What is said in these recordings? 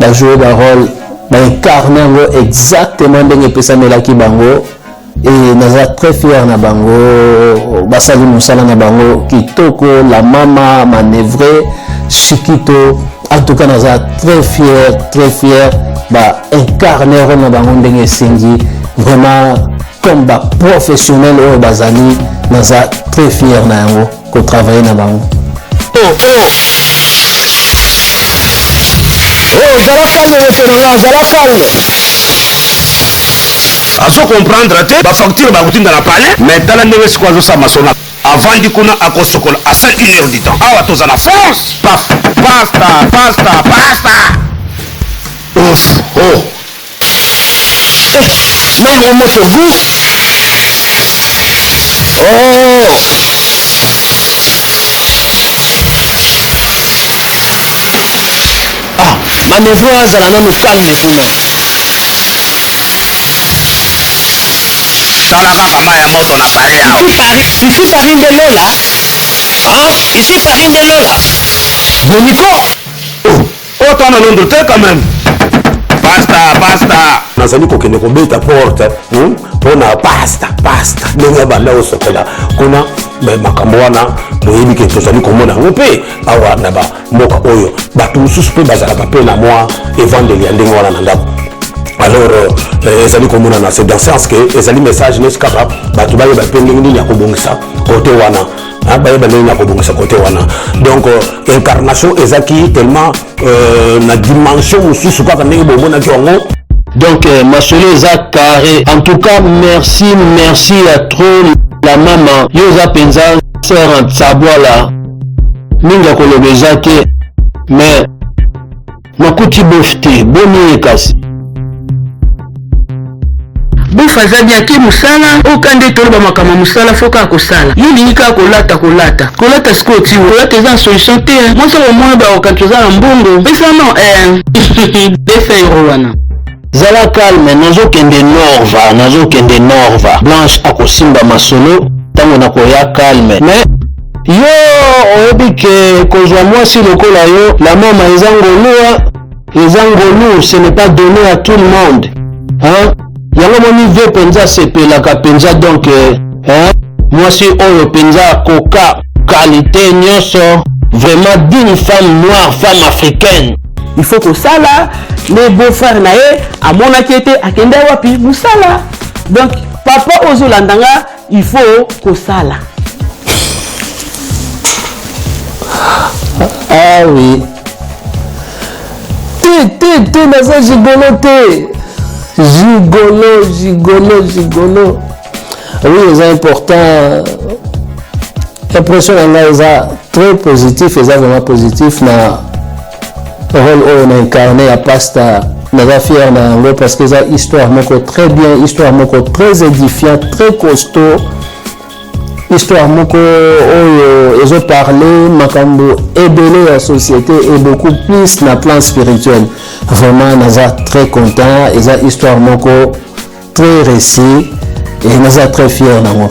ba jouer ba role ba incarne yango exactement ndenge epesamelaki bango et naza très fier na bango basali mosala na bango kitoko la mama manevre chikito en tout cas naza très fier très fier ba incarne role na bango ndenge esengi vraiment comme ba professionnel oyo bazali naza très fier na yango ko travailler na bango oh, oh. Oh, zala calme monsieur na nga zala calme azo comprendre te bafacture bakotinda na palais mais tala ndenge sikoyo azosamba sona avandi kuna akosokola asa une heure du temps awa toza na france pasta pasta pasta pasta oh, oh. na ngo moto gout oh ah manevo azala nanu calme kuna tala kaka mai ya moto na kare ya ici paris ici paris nde lola ah ici paris nde lola boniko Autant na Londres te quand même. Pasta, pasta. nazali kokende kobeta porte hmm, mpo na pasta pasta ndenge ya banda osopela kuna makambo wana boyebi ke tozali komona yango mpe awa na bamboka oyo bato mosusu mpe bazalaka mpe na mwa evandeli ya ndenge wana na ndako alors euh, euh, ezali komonana c'est dans sens que ezali message nesi kaka bato bayeba mpe ndenge nini ya kobongisa kote wana Hein, bayeba ndenge na kobongisa kote wana donc euh, incarnation ezaki tellement euh, na dimension mosusu kaka ndenge bomonaki yango donc euh, masolo eza carré en tout cas merci merci ya trop la mama yo oza mpenza sere nsabwala mingi ya koloba eza te mais Nakuti bof te, boni ye kasi? Bof aza bien te musala, oyo ka nde toloba makambo ya musala faut kaka kosala. Yo olingi kaka kolata kolata. Kolata sikoyo ti oyo. Kolata eza na solution te hein. Mwasi ako mona ba okanisa oza na mbongo. Pesa non eh. Besa euro wana. Zala calme, nazo kende Norva, nazo kende Norva. Blanche akosimba masolo tango nakoya calme. Mais Yo oyebi ke kozwa mwasi lokola yo la mama eza ngolua eza ngolu ce n'est pas donné à tout le monde hein yango moni vie penza asepelaka penza donc eh, hein mwasi oyo penza koka qualité nyonso vraiment digne femme noire femme africaine il faut kosala le beau frère na ye amonaki ete akenda wapi mosala donc papa ozolanda nga il faut kosala ah oui te te te naza gigolo te gigolo gigolo gigolo oui eza important impression na ngai eza très positif eza vraiment positif na role oyo na incarne ya pasta naza fier na yango parce que eza histoire moko très bien histoire moko très édifiant très costaud histoire moko oyo ezo parler makambo ebele ya société et beaucoup plus na plan spirituel vraiment naza très content eza histoire moko très réussi et naza très fier nango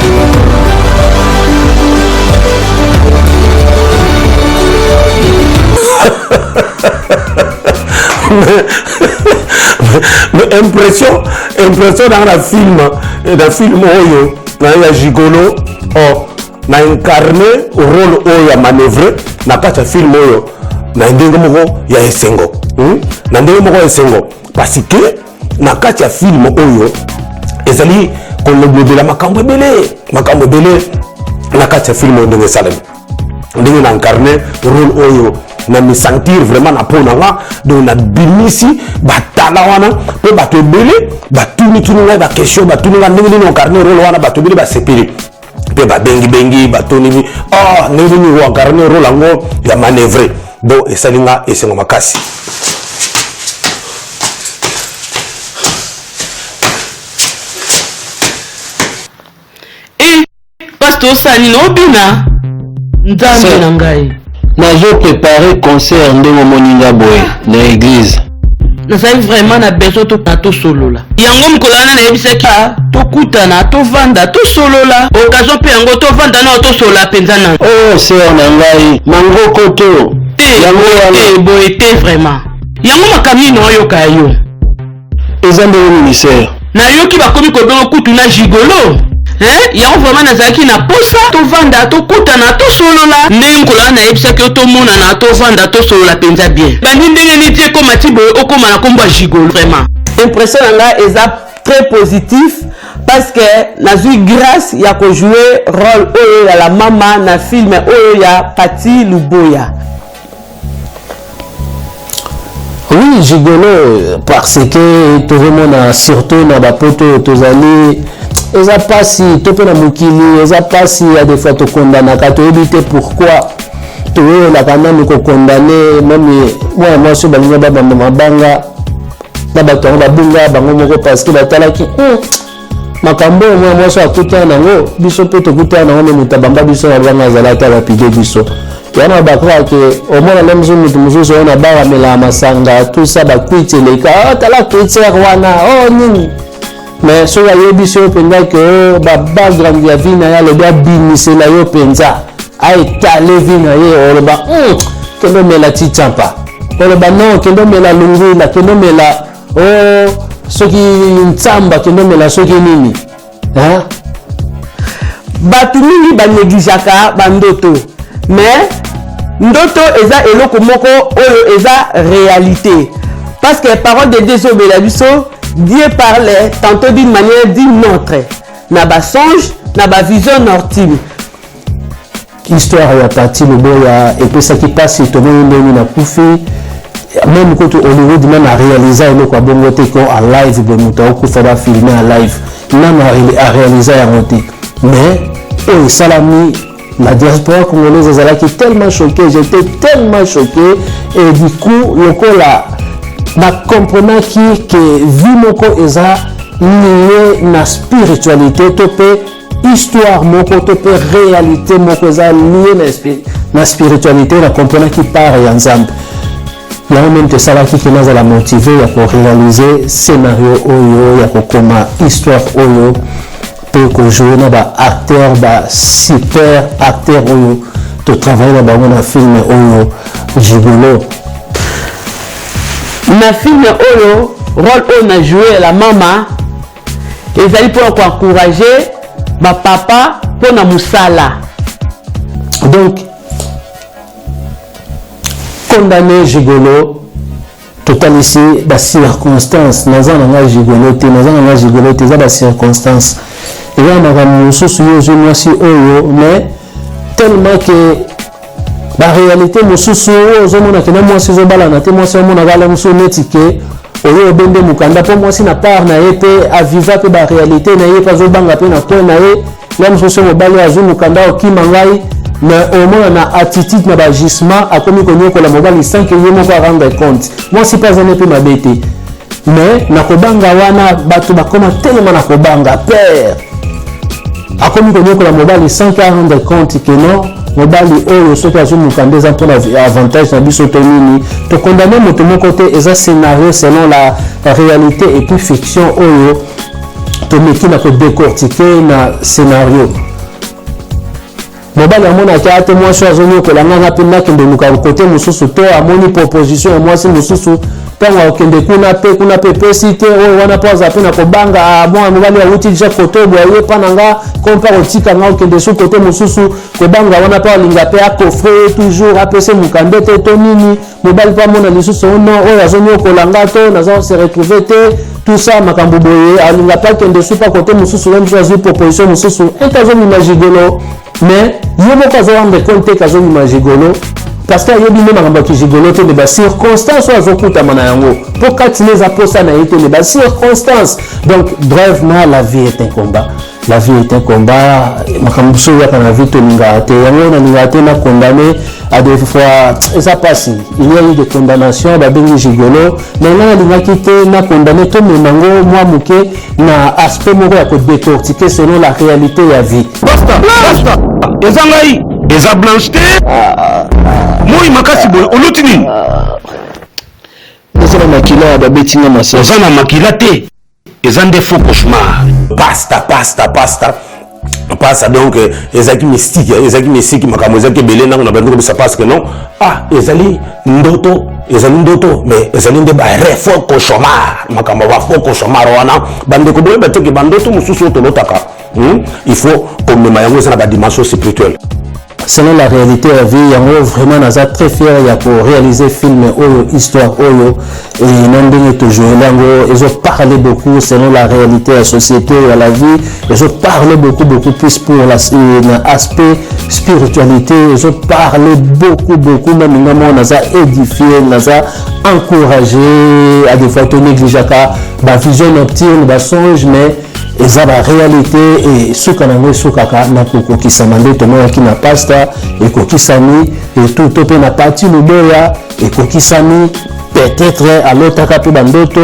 impression impression nanga na film eh, na film oyo naye ya gigolo oh, na incarne role oyo ya manœuvre na kati ya film oyo na ndenge moko ya esengo hmm? na ndenge moko ya esengo parce que na kati ya filme oyo ezali kolobela makambo ebele makambo ebele na kati ya filme oyo ndenge esalemi ndenge na incarne role oyo na misentir vraiment na mpo na nga donc nabimisi batala wana mpo bato ebele batunituni ngai baquestion batuni ngai ndenge nini incarne role wana bato ebele basepeli mpe babengibengi batoni ah, ndenge nini oankarne role yango ya manevre bo esali nga esengo makasi pasto osala nini obina nzambe na ngai nazo prepare concert ndenge omoni nga boye na eglize nazali vraiment na besoin tokana tosolola yango mokolo wana nayebisaki ah, tokutana tovanda tosolola okasion mpe yango tovanda nao tosolola mpenza na oh, ser na ngai mangoko to te te boye te vraiment yango makambo nini oyoka yo eza ndenge ministère Nayoki bakomi kobenga kutu na gigolo eh, yango vraiment nazalaki na posa tovanda tokutana tosolola ndenge mokolo wana nayebisaki yo tomonana tovanda tosolola mpenza bien bandi ndenge niti ekoma ti boye okoma na nkombo ya gigolo vraiment impression na nga eza très positif parce que nazwi grâce ya kojouer role oyo ya la mama na film oyo ya pati luboya oui gigolo parce que tozomona surtout na bapoto tozali eza mpasi to mpe na mokili eza mpasi ya defois tokondanaka toyebi te pourquoi toyelaka nanu kokondane meme mwana mwasi oyo balinga babanda mabanga na bato yango babunga bango moko parce que batalaki hmm, makambo oyo mwana mwasi akutana nango biso mpe tokutana nango nde moto abamba biso na banga azali ata lapide biso yana bakaka ke omona nde mosusu moto mosusu oyo na bara melaa masanga tusa bakwiti eleka oh, tala kwitiere wana o oh, nini mais soki ayebisi yo mpenza ke oh, babagrande ya vi na ye alobi abimisela yo mpenza aetale vi na ye oloba hmm, kende omela titampa oloba non kende omela lungula kende omela o oh, soki nsamba kende omela soki nini hein? bato mingi banegligeaka bandoto mais ndoto eza eloko moko oyo eza réalité parce que parole de dieu ezobela biso dieu parlait tantôt d'une manière d'une autre na basonge na bavision nortime Histoire ya Patty Luboya epesaki pasi tomoni ndenge na kufi meme kutu Hollywood meme a réalisa eloko ya bongo te ko en live boye moto aokufa ba filme en live nano a réalisa yango te mais oyo esalami la diaspora congolaise ezalaki tellement choqué j'étais tellement choqué et du coup lokola nakomprenaki ke vi moko eza liye na spiritualité to mpe histoire moko to mpe réalité moko eza lie na, na spiritualité na comprenaki part ya nzambe yango meme tosalaki ke nazala motive ya korealize scénario oyo ya kokoma histoire oyo mpe kojoue na baacteur basuper acteur oyo totravaille na bango na filme oyo gigolo na filme oyo role oyo na joue la mama ezali mpo na koencourage bapapa mpo na mosala donc condamne gigolo totalisi bacirconstance naza na ngai gigolo te naza na ngai gigolo te eza bacirconstance eza na makambo mosusu yo ozwi mwasi oyo mais tellement ke barealité mosusu oyo ozomona kena mwasi ezobalana te mwasi amonaka ala mosusu neti ke oyo obe nde mokanda mpo mwasi na part na ye mpe aviva mpe barealité na ye mpe azobanga mpe na coin na ye ya mosusu mobali azwi mokanda okima ngai na omona na attitude na bagissement akomi konyokola mobali sanke ye moko arendre compte mwasi mpe azali mpe mabe te mais na kobanga wana bato bakoma telema na kobanga père akomi konyokola mobali sans ke arendre compte ke non mobali oyo soki azoluka nde eza mpona avantage na biso to nini tokondamne moto moko te eza scénario selon la réalité et puis fiction oyo tomeki na kodecortike na scénario Mobali amonaki ate mwasi oyo azonyokola ngai nga mpe nakende luka kote mosusu to amoni proposition ya mwasi mosusu ntango akokende kuna mpe kuna mpe epesi te oyo wana mpo aza mpe na kobanga ah, mwana mobali awuti deja kote oyo boye mpa na nga ko mpe akotika nga okende su kote mosusu kobanga wana mpe alinga mpe akofre ye toujours apese mokande te to nini mobali mpe amona lisusu oh non oyo azoniokola nga to naza se retrouve te tout ça makambo boye alinga mpe akende supa kote mosusu ye mosusu azwi proposition mosusu ete azomima gigolo mais ye moko azo rendre compte ete azomima gigolo parce que ayebi nde makambo ya kigigolo te nde bacirconstance oyo azokutama na yango mpo kati na eza mposa na ye te nde bacirconstance donc brevement la vie est un combat la vie est un combat makambo mosusu oyaka na vie tolingaka te yango nalingaka te na condamne à des fois eza mpasi il y a eu de condamnation babengi gigolo mais nga nalingaki te na condamne tomema yango mwa moke na aspect moko ya kodecortike selon la réalité ya vie eza ngai eza blanche te moi makasi boye oluti nini eza na makila babeti nga masasi oza na makila te eza nde faux cauchemar pasta pasta pasta pasta donc euh, ezalaki mystique euh, ezalaki mystique makambo ezalaki ebele ntango na bandi kobisa parce que non ah ezali ndoto ezali ndoto mais ezali nde barefo cauchemar makambo bafo cauchemar wana bandeko boyeba teke bandoto mosusu oyo tolotaka Hmm? Il faut komema yango eza na ba dimension spirituelle selon la réalité ya vie yango vraiment naza très fier ya koréalise film oyo histoire oyo na ndenge tojoele yango ezo parle beaucoup selon la réalité ya société ya la vie ezo parle beaucoup beaucoup plus pour la, euh, na aspect spiritualité ezo parle beaucoup beaucoup mami nga moko naza édifie naza encouragé à des fois tonégligeaka bavision nocturne basonge mais eza ba réalité et suka nango esukaka na kokokisama nde tomonaki na pasta ekokisami et tout to mpe na pati luboya ekokisami peut-être alotaka mpe bandoto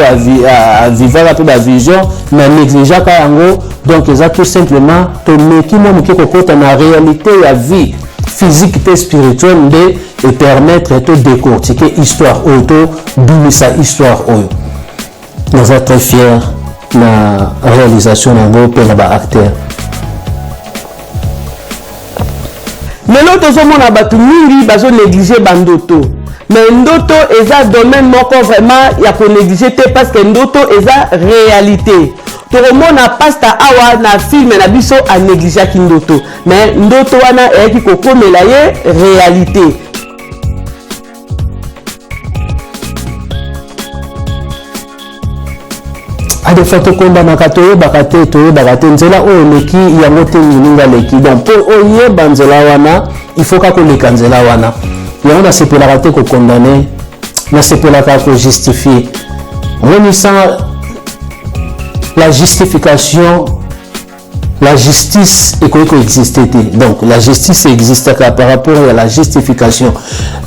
avivaka mpe bavision na négligeaka yango donc eza tout simplement tomeki mwa moke kokota na réalité ya vie physique mpe spirituelle nde epermettre to décortiquer histoire oyo to bimisa histoire oyo naza très fier na réalisation na yango mpe na baacteur lelo tozomona bato mingi bazonéglige bandoto mais ndoto eza domaine moko vraiment ya konéglige te parce que ndoto eza réalité tokomona pasta awa na filme na biso anegligeaki ndoto mais ndoto wana eyaki kokomela ye réalité adefa tokondamaka toyebaka te toyebaka te nzela oyo eleki yango te mininga aleki donc mpo oyeba nzela wana ifoka koleka nzela wana yango nasepelaka te kokondane nasepelaka kojustifie monisa la justification La justice ekoki ko existe te donc la justice existaka par rapport ya la justification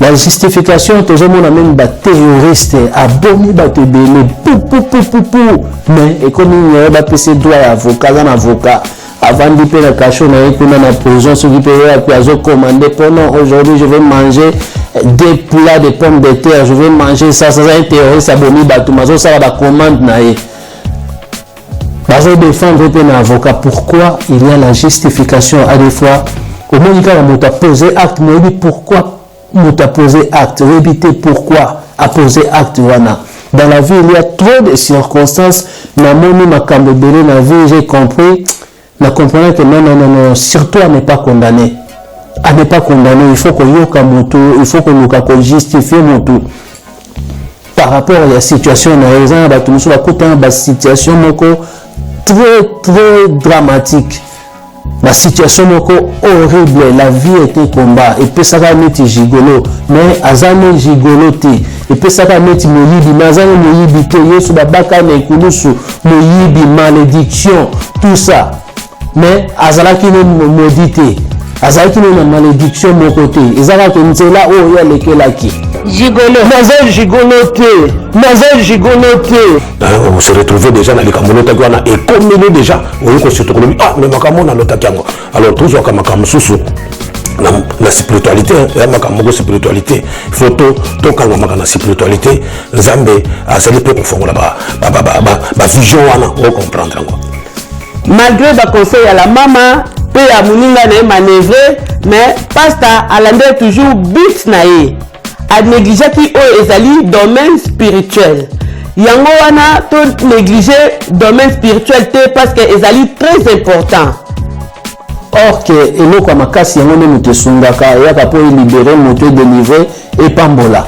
la justification tozomona meme baterroriste abomi bato ebele pupupupupu mais ekomi nyaye bapesi droit ya avocat aza na avocat avandi mpe na kasho na ye kuna na prison soki mpe wapi azokomande mpo non aujourd'hui je vais manger deux plats de pommes de terre je vais manger ça ça aza ye terroriste abomi bato mazosala bacommande na ye bazo defendre pe na avocat pourquoi il y a la justification à des fois omoni kaka moto apose acte moyebi pourquoi moto apose acte oyebi te pourquoi apose acte wana dans la vie il y a trop de circonstances namoni makambo ebele na vie j'ai compris Na comprendre que non, non, non, non, surtout à ne pas condamner. À ne pas condamner, il faut que yoka mutu, il faut que luka ko justifier mutu. Par rapport à la situation na yo, eza bato mosusu bakutana ba situation moko très très dramatique. Ba situation moko horrible, la vie était combat, epesaka neti gigolo, mais aza ne gigolo te. epesaka neti moyibi me aza ne moyibi te yesu babaka na ekulusu moyibi malediction tout ça mais azalaki no modi te azalaki no na malediction moko te eza kaka nzela oyo ye alekelaki gigolo naza gigolo te naza gigolo te se retrouve déjà na likambo olotaki wana ekomeli déjà oyoki osutu kolobi ah mais makambo oyo nalotaki yango alors tozwaka makambo mosusu na, na spiritualité ya makambo moko spiritualité faut to tokangamaka na spiritualité nzambe azali mpe kofongola bavision wana ocomprendre yango malgré baconseil ya la mama mpe ya moninga na ye manevre mais pasta alandeli toujours but na ye a negligeaki oyo ezali domaine spirituel yango wana to néglige domaine spirituel te parce que ezali très important or ke eloko ya makasi yango nde moto esungaka eyaka mpo elibere moto edelivre epambola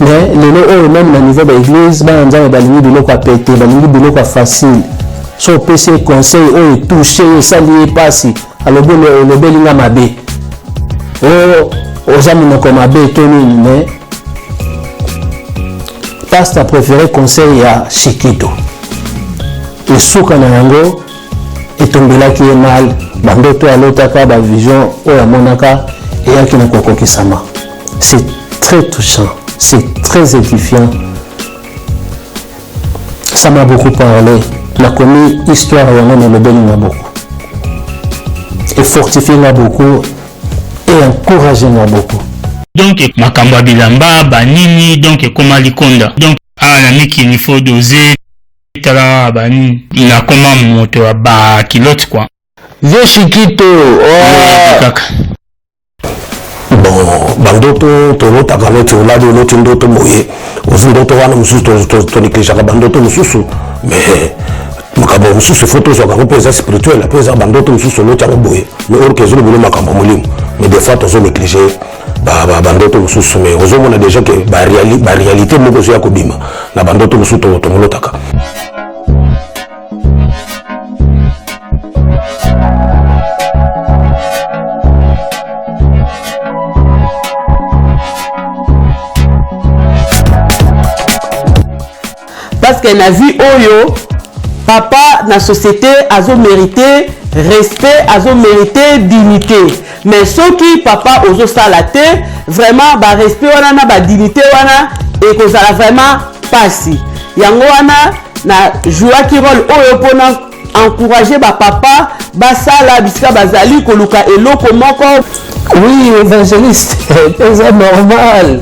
mais lelo oyo meme na niveau baeglise bana nzambe balingi biloko ya pete balingi biloko ya facile so opesi ye conseil oyo etouche ye esali ye mpasi alobi olobeli nga mabe o oh, oza monoko mabe to nini mais pasta préféré conseil ya shikito esuka na yango etombelaki ye mal bandoto alotaka bavision oyo amonaka eyaki na kokokisama c'est très touchant c'est très édifiant Ça m'a beaucoup parlé. La commune histoire et on le béni m'a beaucoup. Et fortifié m'a beaucoup et encouragé m'a beaucoup. Donc makambo ya bilamba banini donc ekoma likonda donc awa na mikili il faut doser tala banini nakoma moto ya bakilote kua vieux shikito oh. kaka bon bandoto tolotaka neti olali oloti ndoto boye ozi ndoto wana mosusu tonegligeaka bandoto mosusu mais makambo mosusu ifo tozwaka yango mpe eza spirituel mpe eza bandoto mosusu oloti yango boye mais orke ezolobele makambo ya molimo mais des fois tozo néglige bandoto mosusu mais ozomona déjà ke baréalité moko ezoya kobima na bandoto mosusu tomolotaka que na vie oyo papa na société azo mérité respect azo mérité dignité mais soki papa ozosala te vraiment barespect wana na badignité wana ekozala vraiment mpasi yango wana na jouaki role oyo mpona encourage bapapa basala bisika bazali koluka eloko moko oui évangéliste eza normal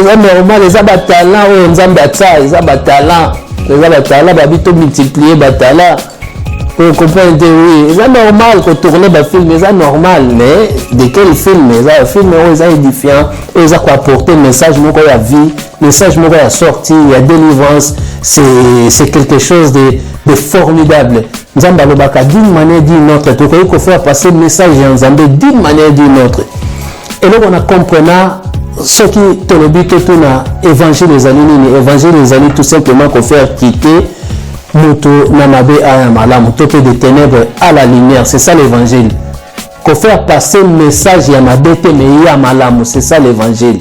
eza normal eza batalant oyo nzambe atia eza batalant eza batalant babi to multiplier batalant oyo comprendre te oui eza normal kotourne bafilm eza normal mais de quel film eza bafilm oyo eza édifiant oyo eza koapporte message moko ya vie message moko ya sortie ya délivrance c'est quelque chose de, de formidable nzambe alobaka d'une manière d'une autre tokoki kofaire passer message ya nzambe d'une manière d'une autre eloko na comprena soki tolobi totuna évangile ezali nini évangile ezali tout simplement kofaire quitter moto na mabe aya malamu to mpe de ténèbres à la lumière c'est ça l'évangile kofaire passer message ya mabe te mais ya malamu c'est ça l'évangile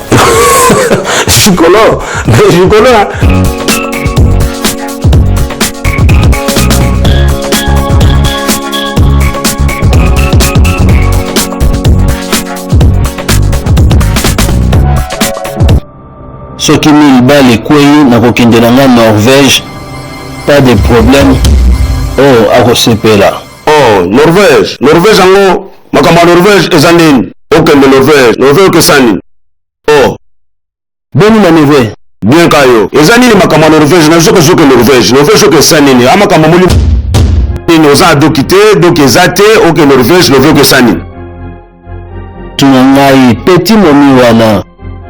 Chicolo, mais Chicolo. Hein. soki mille bale ekwei nakokende na nga norvège pas de problème oyo oh, akosepela oh norvège norvège yango Makambo ya Norvège eza nini? Okende Norvège, Norvège okesa nini? Oh. Boni na neve? Bien ka yo. Eza nini makambo ya Norvège? Na zoko zoko Norvège. Norvège okesa nini? A makambo moli nini oza adoki te, doki eza te, oke Norvège, Norvège okesa nini? Tuna ngai petit momi wana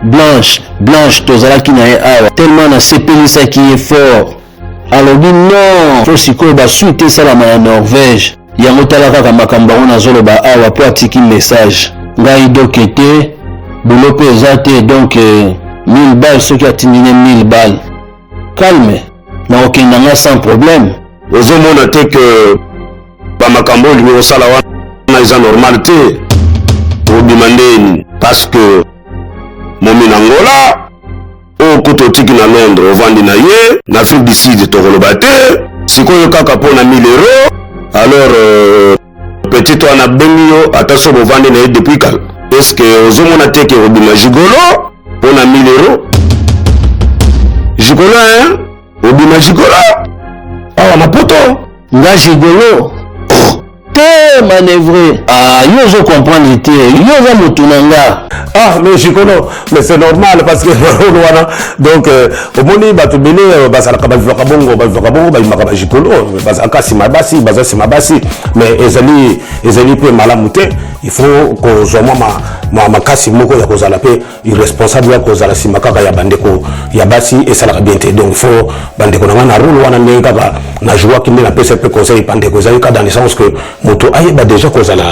Blanche, Blanche tozalaki na ye awa tellement nasepelisaki ye fort. alobi non po sikoyo basuit te esalama na norvège yango tala kaka makambo yango nazoloba awa po atiki message ngai doke te bulo mpe eza te donk 1000 eh, bale soki atindi ne 1000 bale calme nakokenda nga sans problème ozomona te ke bamakambo oyo olingi kosala wana eza normal te obima ndeni parce que momi na ngola oyo kutu otiki na londres ovandi na ye na afrique du sud tokoloba te sikoyo kaka mpo na 1000 euro alors euh, petit wana bengi yo ata so bovandi na ye depuis kala eske ozomona te ke obima jigolo mpo na 1000 euro jigolo hein obima jigolo awa na poto nga jigolo oh. te manevre ah, yo ozo comprendre te yo oza motu na nga ah mais jikono mais c'est normal parce que role wana donc euh, omoni bato bele euh, bazalaka bavivaka bongo bavivaka bongo babimaka bajikolo bazalaka nsima ya basi baza nsima ya basi mais ezali ezali mpe malamu te il faut kozwa mwa makasi moko ya kozala mpe irresponsable ya kozala nsima kaka ya bandeko ya basi esalaka bien te donc faut bandeko na ngai na role wana ndenge kaka na jouaki nde napesa mpe conseil bandeko ezali kaka dans le sens que moto ayeba déjà kozala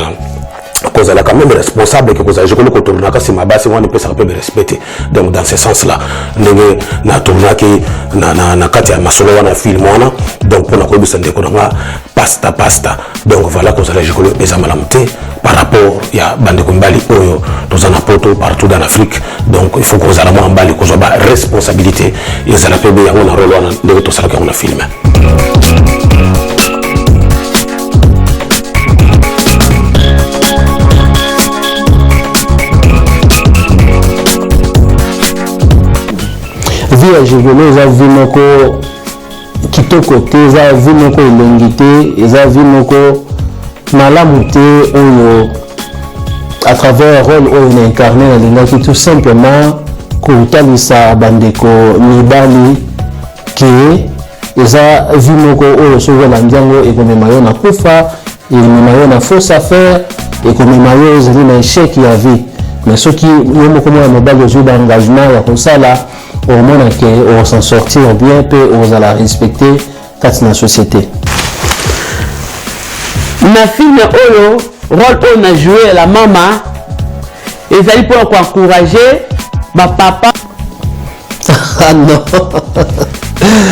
kozala quand même responsable ke kozala jekoli kotournaka nsima basi wana epesaka mpe berespect te donc dans ce sens là ndenge natournaki na, na, na kati ya masolo wana ya film wana donc mpo na koyebisa ndeko na nga pasta pasta donc voilà kozala likolo eza malamu te par rapport ya bandeko mibali oyo toza na poto partout dans l'afrique donc il faut kozala mwa mbali kozwa ba responsabilité ezala mpe be yango na role wana ndenge tosalaki yango na filme vie ya jegolo eza vie moko kitoko te eza vie moko elongi te eza vie moko malamu te oyo à travers rôle oyo na incarne nalingaki tout simplement kotalisa bandeko mibali ke eza vie moko oyo soki olandi yango ekomema yo na kufa ekomema yo na fausse affaire ekomema yo ozali na echec ya vie mais soki yo moko mwana mobali ozwi baengagement ya kosala omona ke okosan sortir bien mpe okozala respecte kati na société na filme oyo role oyo na joue ya la mama ezali mpo na koencourage bapapa ah non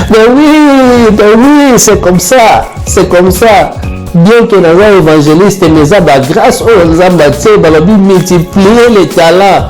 mais oui mais oui c'est comme ça c'est comme ça bien que naza évangéliste mais eza bagrâce oyo nzambe atie balobi multiplier les talents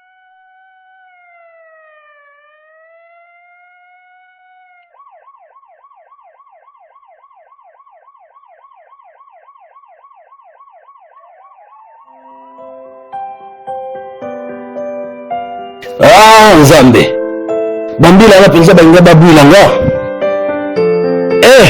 ah nzambe bambila wana mpenza balinga babwila nga eh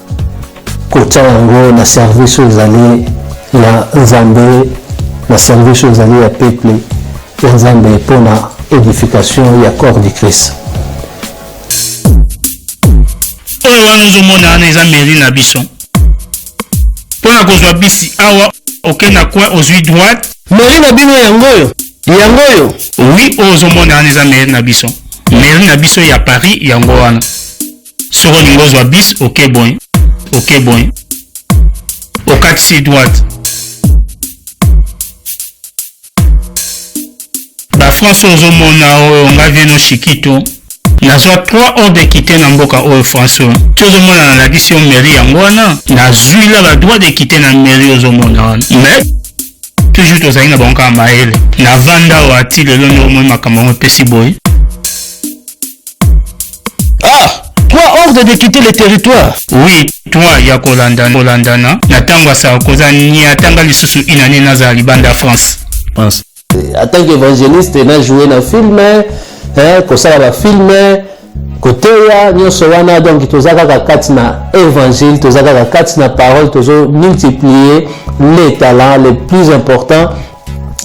kotya yango na service oyo ezali ya nzambe na service oyo ezali ya peuple ya nzambe mpo na edification ya corps du christ oyo wana ozomona wana eza mairie na biso mpo na kozwa bisi awa okende na coin ozwi droite mairie na bino yango oyo yango oyo oui oyo ozomona wana eza mairie na biso mairie na biso ya paris yango wana soki olingi ozwa bis oke boye oke boye okatisi droite bafranse oyo ozomona oyo ngai vie no shikito nazwa 3 ordre ekite na mboka oyo france oyo ti ozomona nalakisi yo mairie yango wana nazwi la badroit dekite na mairie ozomona wana mais toujours tozali na bango kaka mayele navanda oyo ati lelo nde omoi makambo yango epesi boye Ah Toi, ordre de quitter le territoire Oui, toi ya kolandana kolandana na ntango ya sarkoza nia atanga lisusu inane nazala libanda france france en tant qu'évangéliste na joue na film eh, kosala bafilme eh, koteya nyonso wana donc toza kaka kati na évangile toza kaka kati na parole tozo multiplier les talents les plus importants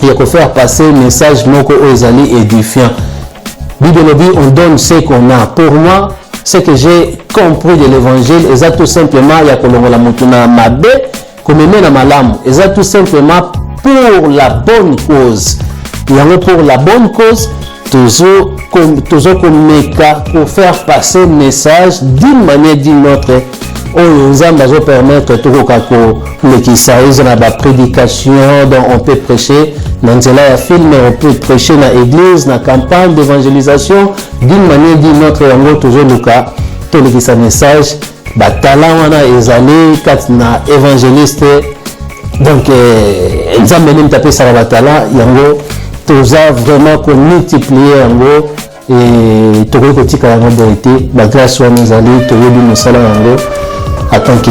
ya ko faire passer message moko oyo ezali édifiant bible elobi on donne ce qu'on a pour moi ce que j'ai compris de l'évangile eza tout simplement ya kolongola motu na mabe komeme na malamu eza tout simplement pour la bonne cause yango pour la bonne cause tozo komeka ko faire passer message d'une manière d'une autre oyo nzambe azopermettre tokoka kolekisa eza na baprédication donc on peut prêcher na nzela ya filme on peut prêcher na église na campagne d'évangélisation d'une manière d'une autre yango tozoluka tolekisa message ba talent wana ezali kati na evangeliste donc eh, nzambe nini tapesaka ba talent yango toza vraiment komultiplier yango eh, tokoki kotika yango boye te bagrâce wana ezali toyebi mosala yango atant que